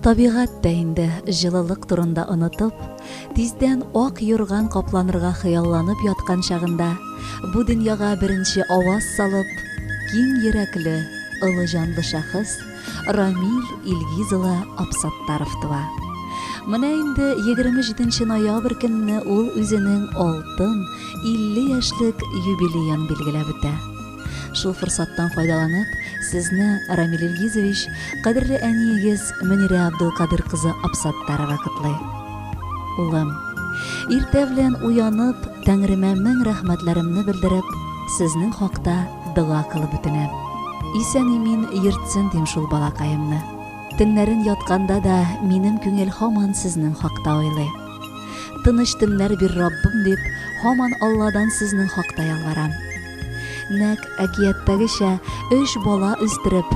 Табигать тә инде җылылык турында онытып, тиздән ак юрган капланырга хыялланып яткан чагында бу дөньяга беренче аваз салып, киң йөрәкле, олы җанлы шәхес Рамиль Илгиз улы Абсаттаров туа. Менә инде 27 ноябрь көнне ул үзенең алтын 50 яшьлек юбилеен билгеләп үтә. Шул форсаттан файдаланып, сезне, Рамиль Илгизович, кадерле әниегез Мөнирә Абдулкадыр кызы Абсаттарова котлый. Улым, иртә белән уянып, Тәңремә мең рәхмәтләремне белдереп, сезнең хакта дога кылып үтенәм. Исән-имин йөртсен дим шул балакаемны. Төннәрен ятканда да минем күңел һаман сезнең хакта уйлый. Тыныч төннәр бир, Раббым, дип, һаман Алладан сезнең хакта ялварам. Нәкъ әкияттәгечә, өч бала үстереп,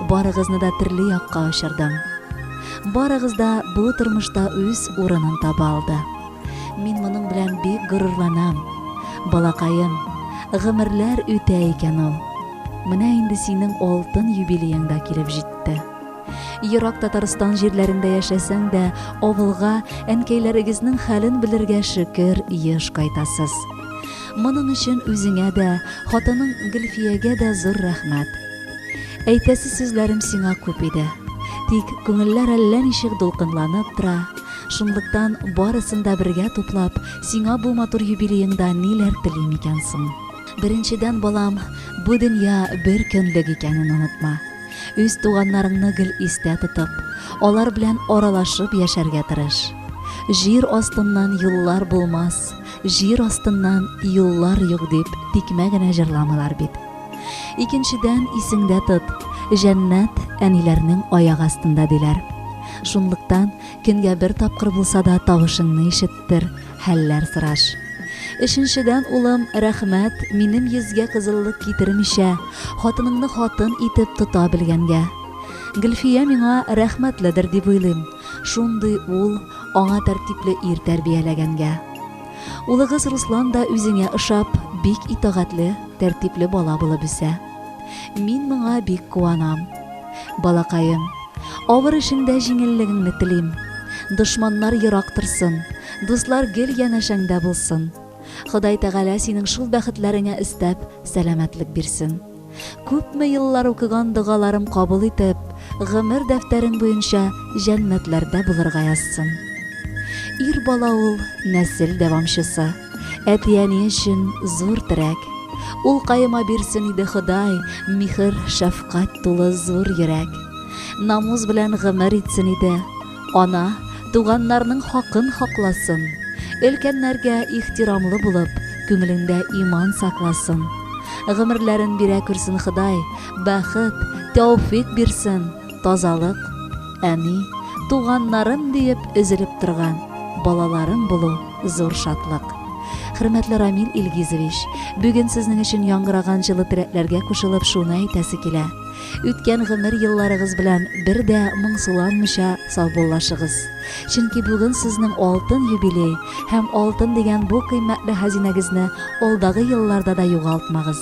барыгызны да төрле якка очырдым. Барыгыз да бу тормышта үз урынын таба алды. Мин моның белән бик горурланам. Балакаем, гомерләр үтә икән ул. Менә инде синең алтын юбилеең да килеп җитте. Ерак Татарстан җирләрендә яшәсәң дә, авылга әнкәйләрегезнең хәлен белергә шөкер еш кайтасыз. Моның өчен үзеңә дә, хатының Гөлфиягә дә зур рәхмәт. Әйтәсе сүзләрем сиңа күп иде. Тик күңелләр әллә ничек дулкынланып тора, Шунлыктан, барысын да бергә туплап, сиңа бу матур юбилееңда ниләр телим икән соң? Беренчедән, балам, бу дөнья бер көнлек икәнен онытма. Үз туганнарыңны гел истә тотып, алар белән аралашып яшәргә тырыш. Җир астыннан юллар булмас, җир астыннан юллар юк дип тикмә генә җырламыйлар бит. Икенчедән, исеңдә тот, җәннәт әниләрнең аяк астында, диләр. Шунлыктан, Көнгә бер тапкыр булса да тавышыңны ишеттер, хәлләр сораш. Өченчедән, улым, рәхмәт, минем йөзгә кызыллык китермичә, хатыныңны хатын итеп тота белгәнгә. Гөлфия миңа рәхмәтледер дип уйлыйм, шундый ул, аңа тәртипле ир тәрбияләгәнгә. Улыгыз Руслан да үзеңә ошап, бик итагатьле, тәртипле бала булып үсә. Мин моңа бик куанам. Балакаем, авыр эшеңдә җиңеллегеңне телим. Дошманнар ерак торсын, дуслар гел янәшәңдә булсын. Ходай Тәгалә синең шул бәхетләреңә өстәп, сәламәтлек бирсен. Күпме еллар укыган догаларым кабул итеп, гомер дәфтәрең буенча җәннәтләрдә булырга язсын. Ир бала ул, нәсел дәвамчысы. Әти-әни өчен зур терәк. Ул каема бирсен иде Ходай, михер, шәфкать тулы зур йөрәк. Намус белән гомер итсен иде. Ана, туганнарның хакын хакласын. Өлкәннәргә ихтирамлы булып, күңелендә иман сакласын. Гомерләрен бирә күрсен Ходай, бәхет, тәүфик бирсен, тазалык, әни, туганнарым диеп өзелеп торган балаларым булу зур шатлык. Хөрмәтле Рамил Илгизович, бүген сезнең өчен яңгыраган җылы теләкләргә кушылып шуны әйтәсе килә. Үткән гомер елларыгыз белән бер дә моңсуланмыйча саубуллашыгыз. Чөнки бүген сезнең алтын юбилей һәм алтын дигән бу кыйммәтле хәзинәгезне алдагы елларда да югалтмагыз.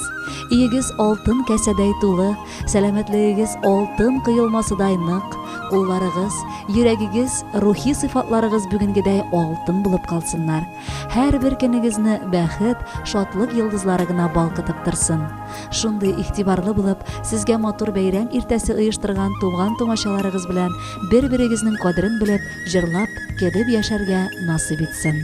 Өегез алтын кәсәдәй тулы, Сәламәтлегегез алтын коелмасыдай нык, кулларыгыз, йөрәгегез, рухи сыйфатларыгыз бүгенгедәй алтын булып калсыннар. Һәрбер көнегезне бәхет, шатлык йолдызлары гына балкытып торсын. Шундый игътибарлы булып, сезгә матур бәйрәм иртәсе оештырган туган-тумачаларыгыз белән бер-берегезнең кадерен белеп, җырлап, кебеп яшәргә насыйп итсен.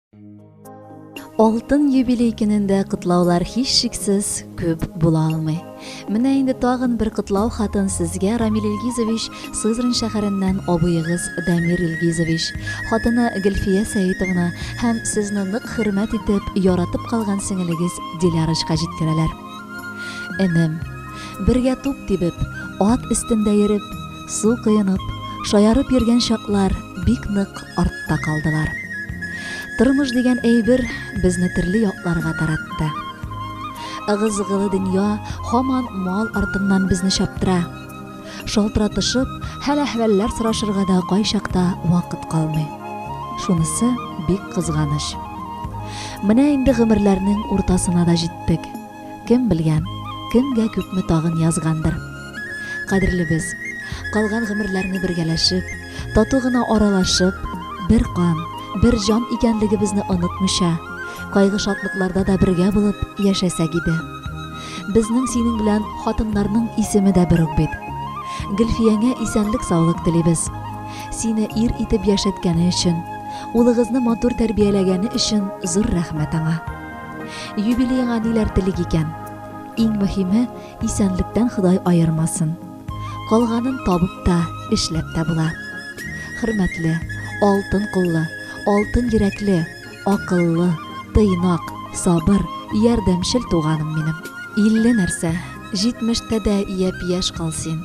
Алтын юбилей көнендә котлаулар һичшиксез күп була алмый. Менә инде тагын бер котлау хатын сезгә Рамил Илгизович Сызрань шәһәреннән абыегыз Дамир Илгизович, хатыны Гөлфия Сәитовна һәм сезне нык хөрмәт итеп, яратып калган сеңелегез Дилярочка җиткерәләр. Энем, бергә туп тибеп, ат өстендә йөреп, Су коенып, шаярып йөргән чаклар бик нык артта калдылар. Тормыш дигән әйбер безне төрле якларга таратты. Ыгы-зыгылы дөнья һаман мал артыннан безне чаптыра. Шалтыратышып, хәл-әхвәлләр сорашырга да кайчакта вакыт калмый. Шунысы бик кызганыч. Менә инде гомерләрнең уртасына да җиттек. Кем белгән, кемгә күпме тагын язгандыр. Кадерлебез, калган гомерләрне бергәләшеп, тату гына аралашып, бер кан, бер җан икәнлегебезне онытмыйча, кайгы-шатлыкларда да бергә булып яшәсәк иде. Безнең синең белән хатыннарның исеме дә бер үк бит. Гөлфиянә исәнлек-саулык телибез. Сине ир итеп яшәткәне өчен, улыгызны матур тәрбияләгәне өчен зур рәхмәт аңа. Юбилееңа ниләр телик икән? Иң мөһиме, исәнлектән Ходай аермасын. Калганын табып та, эшләп тә була. Хөрмәтле, алтын куллы, алтын йөрәкле, акыллы, тыйнак, сабыр, ярдәмчел туганым минем. Илле нәрсә, җитмештә дә япь-яшь кал син.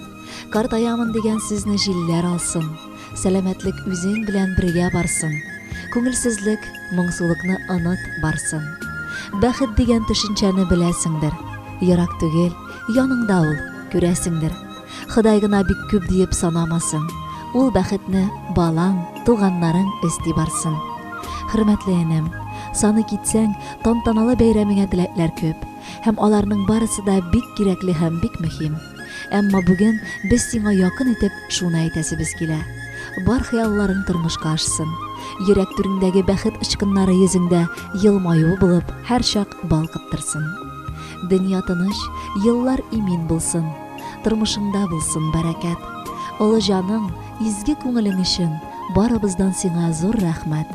Картаямын дигән сүзне җилләр алсын, Сәламәтлек үзең белән бергә барсын, Күңелсезлек, моңсулыкны оныт, барсын. Бәхет дигән төшенчәне беләсеңдер, Ерак түгел, яныңда ул, күрәсеңдер. Ходай гына бик күп диеп санамасын, Ул бәхетне балаң, туганнарың өсти барсын. Хөрмәтле энем, саный китсәң, тантаналы бәйрәмеңә теләкләр күп, һәм аларның барысы да бик кирәкле һәм бик мөһим. Әмма бүген без сиңа якын итеп шуны әйтәсебез килә. Бар хыялларың тормышка ашсын. Йөрәк түреңдәге бәхет очкыннары йөзеңдә елмаю булып һәрчак балкыттырсын. Дөнья тыныч, еллар имин булсын. Тормышыңда булсын бәрәкәт. Олы җаның, изге күңелең өчен барыбыздан сиңа зур рәхмәт.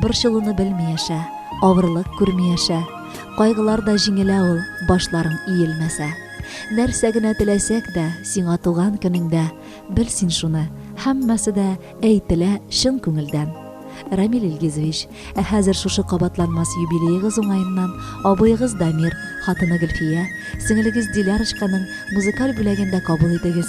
Борчылуны белми яшә, авырлык күрми яшә. Кайгылар да җиңелә ул, башларың иелмәсә. Нәрсә генә теләсәк дә, сиңа туган көнеңдә, бел син шуны, һәммәсе дә әйтелә чын күңелдән. Рамил Илгизович, ә хәзер шушы кабатланмас юбилеегыз уңаеннан абыегыз Дамир, хатыны Гөлфия, сеңелегез Дилярочканың музыкаль бүләген дә кабул итегез.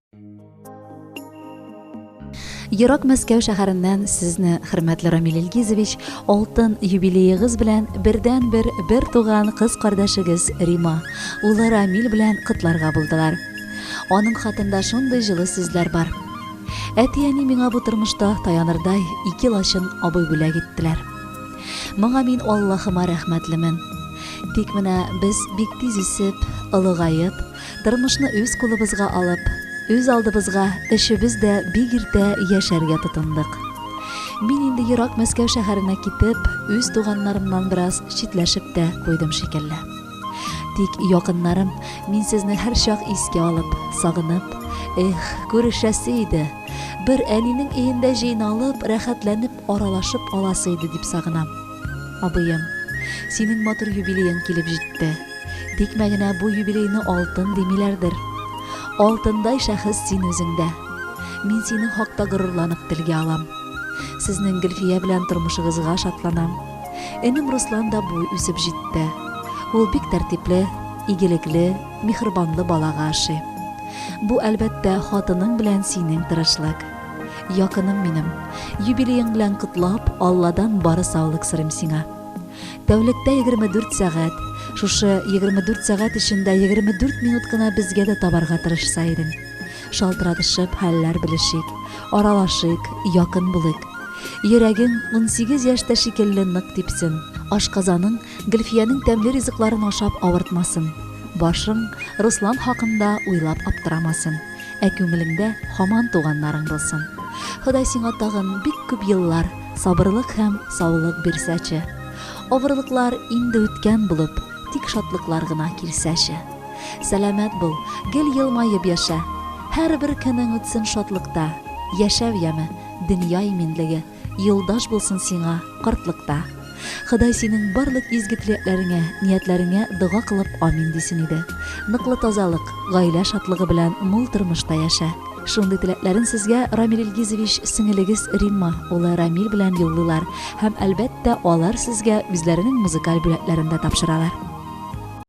Ерак Мәскәү шәһәреннән сезне, хөрмәтле Рамил Илгизович, алтын юбилеегыз белән бердән-бер бер туган кыз кардәшегез Рима, улы Рамил белән котларга булдылар. Аның хатында шундый җылы сүзләр бар. Әти-әни миңа бу тормышта таянырдай ике лачын абый бүләк иттеләр. Моңа мин Аллаһыма рәхмәтлемен. Тик менә без бик тиз үсеп, олыгаеп, Тормышны үз кулыбызга алып, үз алдыбызга өчебез дә бик иртә яшәргә тотындык. Мин инде ерак Мәскәү шәһәренә китеп, үз туганнарымнан бераз читләшеп тә куйдым шикелле. Тик якыннарым, мин сезне һәрчак искә алып, сагынып, Эх, күрешәсе иде! Бер әнинең өендә җыйналып, рәхәтләнеп аралашып аласы иде дип сагынам. Абыем, синең матур юбилеең килеп җитте. Тикмә генә бу юбилейны алтын димиләрдер. Алтындай шәхес син үзең дә. Мин синең хакта горурланып телгә алам. Сезнең Гөлфия белән тормышыгызга шатланам. Энем Руслан да буй үсеп җитте. Ул бик тәртипле, игелекле, михрбанлы балага ошый. Бу, әлбәттә, хатының белән синең тырышлык. Якыным минем, юбилеең белән котлап, Алладан бары саулык сорыйм сиңа. Тәүлектә 24 сәгать, шушы 24 сәгать эчендә 24 минут кына безгә дә табарга тырышса идең. Шалтыратышып, хәлләр белешик, аралашыйк, якын булыйк. Йөрәгең 18 яшьтә шикелле нык типсен, ашказаның Гөлфиянең тәмле ризыкларын ашап авыртмасын, башың Руслан хакында уйлап аптырамасын, ә күңелеңдә һаман туганнарың булсын. Ходай сиңа тагын бик күп еллар сабырлык һәм саулык бирсәче. Авырлыклар инде үткән булып, тик шатлыклар гына килсәче. Сәламәт бул, гел елмаеп яшә. Һәрбер көнең үтсен шатлыкта. Яшәү яме, дөнья иминлеге. Юлдаш булсын сиңа картлыкта. Ходай синең барлык изге теләкләреңә, ниятләреңә дога кылып амин дисен иде. Ныклы тазалык, гаилә шатлыгы белән мул тормышта яшә. Шундый теләкләрен сезгә Рамил Илгизович сеңелегез Римма улы Рамил белән юллыйлар һәм, әлбәттә, алар сезгә үзләренең музыкаль бүләкләрен дә тапшыралар.